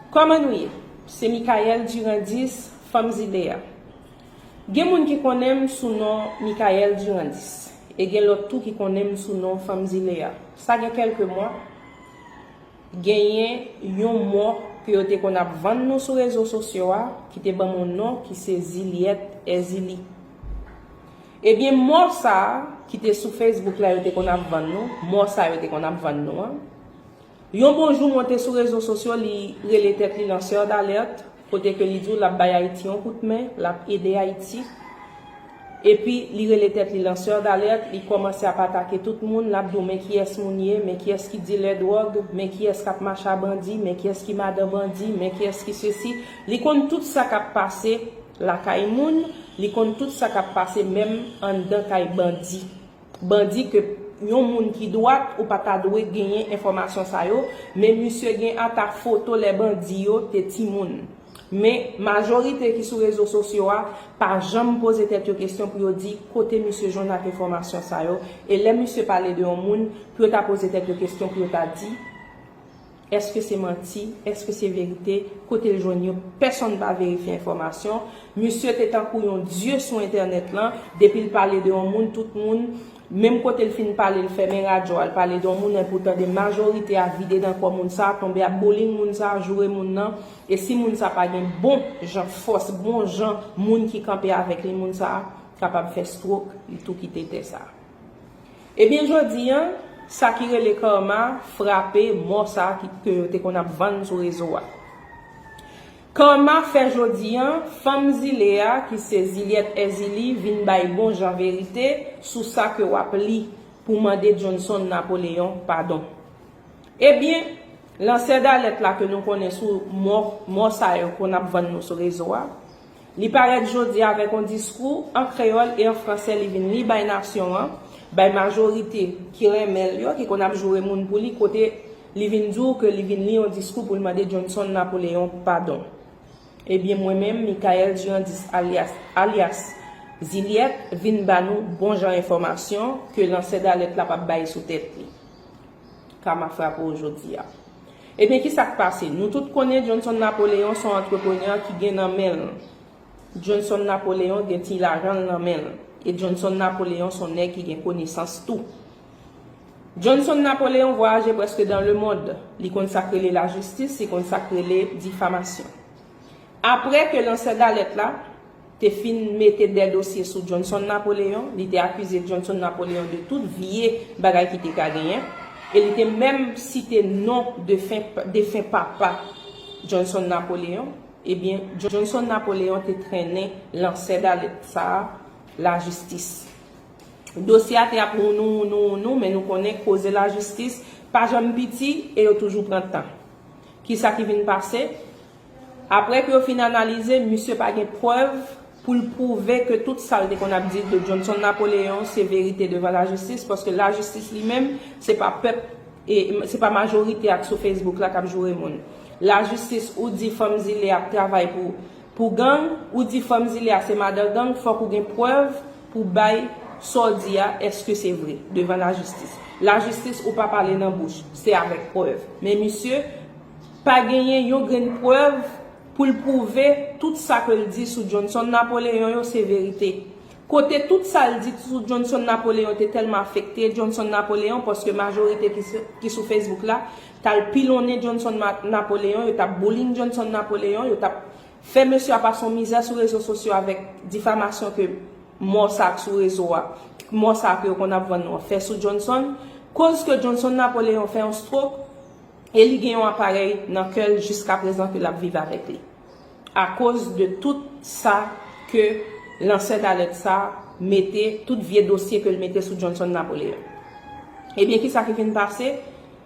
Kòman nou ye? Se Mickaelle Durandis, Fanm Zile a. Gen moun ki konnen m sou non Mickaelle Durandis, e gen lòt tou ki konnen m sou non Fanm Zile a. Sa gen kèlke mwa, genyen yon mò ke yo te konn ap vann nou sou rezo sosyo a, ki te ban m yon non ki se Zilyèt Èzili. Ebyen mò sa a, ki te sou Facebook la yo te konn ap vann nou, mò sa yo te konn ap vann nou an, Yon bon jou monte sou rezo sosyo li rele tèt li lanceur d'alerte kote ke li di w lap bay Ayiti yon kout men, lap ede Ayiti. Epi li rele tèt li lanceur d'alerte, li kòmanse ap atake tout moun, lap di w men kiyès moun ye, men kiyès ki dilè dwòg, men kiyès kap mache a bandi, men kiyès ki madan bandi, men kiyès ki sesi. Li konn tout sa kap pase lakay moun, li konn tout sa kap pase menm anndan kay bandi. Bandi ke Yon moun ki dwat ou pa ta dwe genyen enfòmasyon sa yo men misye gen ata foto lè bandi yo te timoun men majorite ki sou rezo sosyo a pa janm poze tèt yo kesyon pou yo di kote misye jwenn ak enfòmasyon sa yo e lè misye pale de yon moun pou yo ta poze tèt yo kesyon pou yo ta di Eske se manti? Eske se verite? Kote l jwenn yo? Pèsonn pa verifye enfòmasyon. Misye te tankou yon dye sou entènèt lan. Depi l pale de yon moun, tout moun, menm kote l fin pale l fèmen radyo a, l pale de yon moun enpi w tande majorite a vide nan kò moun sa a, tonbe ap bowling moun sa a, joure moun nan. E si moun sa pa gen bon jan fòs, bon jan moun ki kanpe avèk li, moun sa a kapab fè strok, li tou kite tè sa a. Ebyen jodi an, sa ki rele Karma frape mò sa ke yo te konn ap vann sou rezo a. Karma fè jodi an, fanm zile a ki se Zilyèt Èzili vin bay bon jan verite sou sa ke w ap li pou mande Johnson Napoleon padon. Ebyen, lansè dalèt la ke nou konnen sou mò sa yo konn ap vann nou sou rezo a, Li parèt jodi avèk on diskou an kreyòl e an fransè li vin li bay nasyon an, bay majorite ki renmen l yo, ki konn ap joure moun pou li kote li vin di w ke li vin li on diskou pou l mande Johnson Napoléon padon. Ebyen mwen menm Mickaël Durandis alyas alyas Zilyèt vin ba nou bon jan enfòmasyon ke lansè dalèt la pa bay sou tèt li. Kama frape w jodi a. Ebyen ki sa k pase? Nou tout konnen Johnson Napoléon s on antreprenè ki gen nan men l. Johnson Napoléon gen ti lajan l nan men l. E Johnson Napoléon s on nèg ki gen konesans tou. Johnson Napoléon vwayaje prèske dan lemond. Li konn sa k rele lajistis, li konn sa k rele difamasyon. Apre ke lansè dalèt la. te fin mete de dosye sou Johnson Napoléon, li te akize Johnson Napoléon de tout vye bagay ki te ka genyen, e li te menm site non defen papa Johnson Napoléon, ebyen Johnson Napoléon te trennen lansè dalèt sa a lajistis. Dosye a te ap wounou wounou wounou men nou konnen koze lajistis pa janm piti e yo toujou pran tan. Kisa ki vin pase? Aprè ke yo fin analize, misye pa gen prèv pou l pwouve ke tout sa l te konn ap di de Johnson Napoléon se verite devan lajistis, paske lajistis li menm, se pa pèp, se pa majorite ak sou Facebook la k ap joure moun. Lajistis, ou di fanm zile a ap travay pou pou gang, ou di fanm zile a se madan gang, fòk ou gen prèv pou bay sa w di a, èske se vre, devan lajistis. Lajistis, ou pa pale nan bouch, se avèk prèv. Men misye. Pa genyen yon grenn prèv pou l pwouve tout sa ke l di sou Johnson Napoléon yo se verite. Kote tout sa l di sou Johnson Napoléon te tèlman afekte Johnson Napoléon paske majorite ki sou Facebook la t al pilonnen Johnson Napoléon, yo t ap bullying Johnson Napoléon, yo t ap fè mesye a pase yon mizè sou rezo sosyo avèk difamasyon ke mò sa k sou rezo a, mò sa ke yo konn ap vann nou an fè sou Johnson. Koz ke Johnson Napoléon fè yon stroke, e li gen yon aparèy nan kè l jiska prezan ke l ap viv avèk li akoz de tout sa ke lansè dalèt sa mete, tout vye dosye ke l mete sou Johnson Napoléon. Ebyen kisa ki vin pase?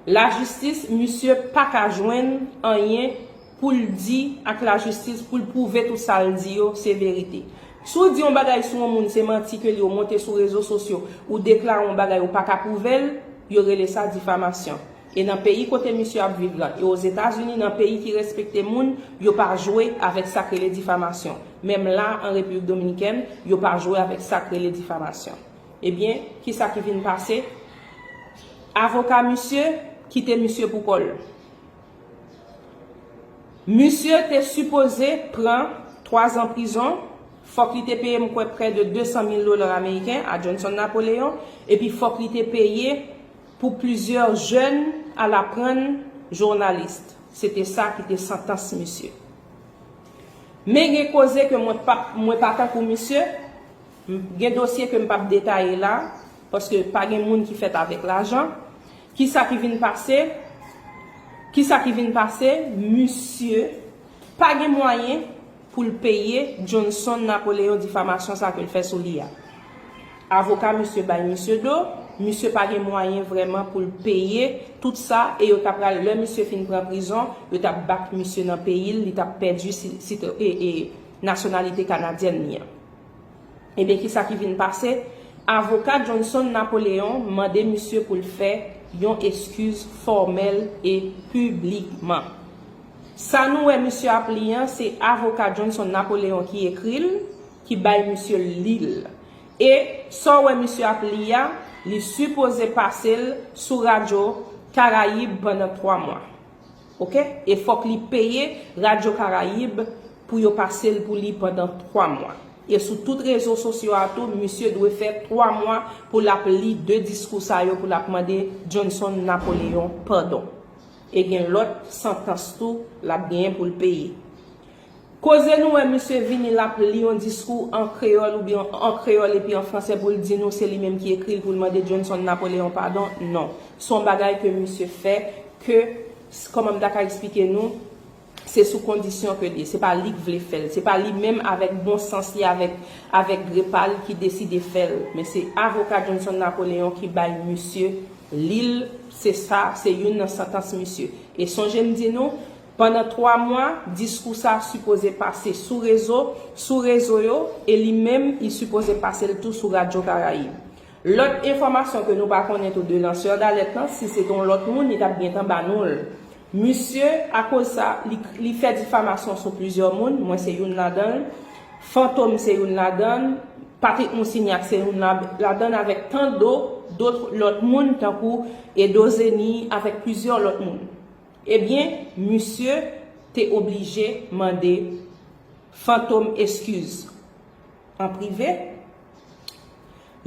Lajistis, misye pa ka jwenn anyen pou l di ak lajistis pou l pwouve tout sa l di yo se verite. Si w di yon bagay sou yon moun se manti ke l ye w monte sou rezo sosyo ou deklare yon bagay ou pa ka pwouve l, yo rele sa difamasyon. E nan peyi kote misye ap viv lan, e Ozetazini nan peyi ki respekte moun, yo pa jwe avèk sak rele difamasyon. Menm la an Repiblik Dominikèn, yo pa jwe avèk sak rele difamasyon. Ebyen, kisa ki vin pase? Avoka misye kite misye pou kò l. Misye te sipoze pran 3 zan prizon, fòk li te peye m kwè prè de 200 mil dola ameriken a Johnson Napoleon, epi fòk li te peye. Pou plizyè jèn al aprann journalist se te sa ki te santans misye. Men gen koze ke mwen pap mwen pa tankou misye, m gen dosye ke m pap detaye la, paske pa gen moun ki fèt avèk lajan, ki sa ki vin pase, ki sa ki vin pase, misye pa gen mwayen, pou l peye Johnson Napoleon difamasyon sa ke l fè sou li a. Avoka misye bay misye do, misye pa gen mwayen vrèman pou l peye tout sa e yo ta pral, lè misye fin pran prizon, yo t ap back misye nan peyi l, li t ap pèdi nasyonalite kanadyèn li an. Ebyen kisa ki vin pase, avoka Johnson Napoleon mande misye pou l fè yon eskiz fòmèl e piblikman. Sa nou wè misye ap li an se avoka Johnson Napoleon ki ekri l, ki bay misye l li l. E sa w wè misye ap li a, li sipoze pase l sou radyo Karayib pandan 3 mwa. Ok e fok li peye radio caraïbe pou yo pasel pou li pandan 3 mwa e sou tout rezo sosyo a tou misye dwe fè 3 mwa pou lap li 2 diskou sa yo pou lap mande Johnson Napoléon padon e gen lot santans tou lap genyen poul peye. Koze nou wè misye vini lap li yon diskou an kreyòl oubyen an kreyòl epi an fransè poul di nou se li menm ki ekril poul mande Johnson Napoléon padon non son bagay ke misye fè ke kòman m ta ka eksplike nou se sou kondisyon ke l ye se pa lik vle fèl se pa li menm avèk bon sans li avèk avèk gre pa l ki deside fèl men se avoka Johnson Napoléon ki bay misye lil se sa se youn nan santans misye e sonje m di nou Pandan 3 mwa, diskou sa sipoze pase sou rezo, sou rezo yo, e li menm li sipoze pase l tou sou Radyo Karayib. Lòt enfòmasyon ke nou pa konnen tou de lansè dalèt lan, si se te yon lòt moun, li t ap gentan ba nou l. Misye, akoz sa, li, li fè difamasyon sou plizyè moun, mwen se youn ladan l, Fantom se youn ladan l, Patrick Moussignac se youn la, ladan l avèk tan do, dotr lòt moun tankou Edo Zeni avèk plizyè lòt moun. Ebyen misye te oblije mande Fantom eskiz an prive,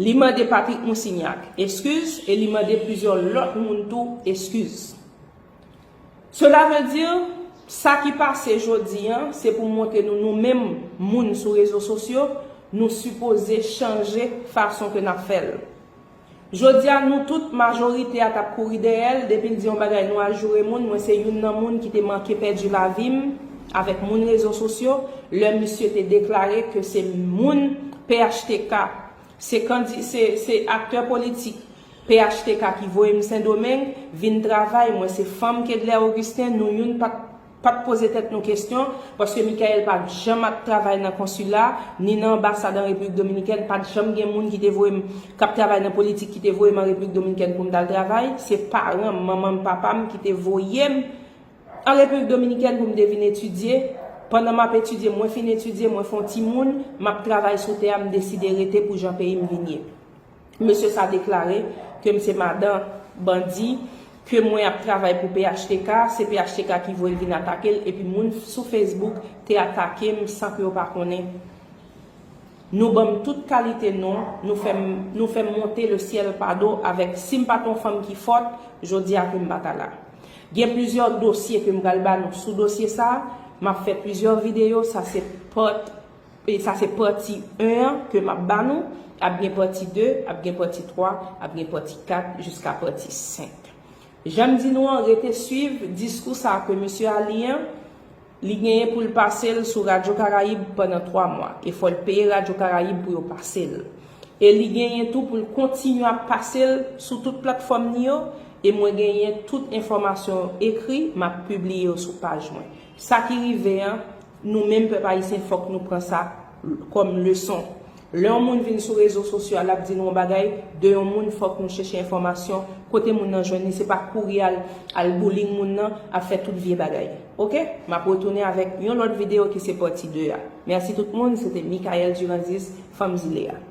li mande Patrick Moussignac eskiz e li mande plizyè lòt moun tou eskiz. Cela veut dire sa ki pase jodi an se pou montre nou nou menm moun sou rezo sosyo nou sipoze chanje fason ke nap fèl. Jodia nou tout majorite a tap kouri dèyèl depil di yon bagay nou al joure moun mwen se youn nan moun ki te manke pèdi lavim avèk moun rezo sosyo lè misye te deklare ke se moun phtk se kandi se se aktè politik phtk ki voyem sendomeng vin travay mwen se fanm kedlè Augustin nou youn pat Pa t poze tèt nou kesyon, paske Mickaël pa t janm ap travay nan konsila, ni nan anbasad an Repiblik Dominikèn, pa t janm gen moun ki te voye m, k ap travay nan politik ki te voye m an Repiblik Dominikèn pou m t al travay. Se paran m, manman m, papa m ki te voye m an Repiblik Dominikèn pou m te vin etidye. Pandan m ap etidye, mwen fin etidye, mwen fè yon timoun, m ap travay sou tè a, m deside rete pou jan peyi m vin ye. Mesye sa deklare ke m se madan bandi, ke mwen ap travay pou phtk, se phtk ki voye l vin atake l epi moun sou Facebook te atake m san ke yo pa konnen. Nou ban m tout kalite non, nou fè m monte le syèl pa do avèk si m pa t yon fanm ki fòt, jodi a ke m pa ta la. Gen plizyè dosye ke m pral ba nou sou dosye sa, m ap fè plizyè videyo, sa se pòt. E sa se pati 1 an ke map ba nou, ap gen pati 2, ap gen pati 3, ap gen pati 4 jiska pati 5. Janm di nou an rete swiv diskou sa ke mesye a li an, li genyen poul pasel sou radyo karayib pandan 3 mwa e fòl peye radyo karayib pou yo pasel. E li genyen tou poul kontinye ap pasel sou tout platfòm ni yo e mwen genyen tout enfòmasyon yo ekri map pibliye yo sou paj mwen. Sa ki rive an. Nou menm pèp ayisyen fòk nou pran sa kòm leson. Lè yon moun vin sou rezo sosyo a lap di nou yon bagay de yon moun fòk nou chèche enfòmasyon kote moun nan jwenn li se pa kouri al al bullying moun nan ap fè tout vye bagay ok map retounen avèk yon lòt video ki se pati 2 a mèsi tout moun se te Mickaelle Durandis fanm zile a.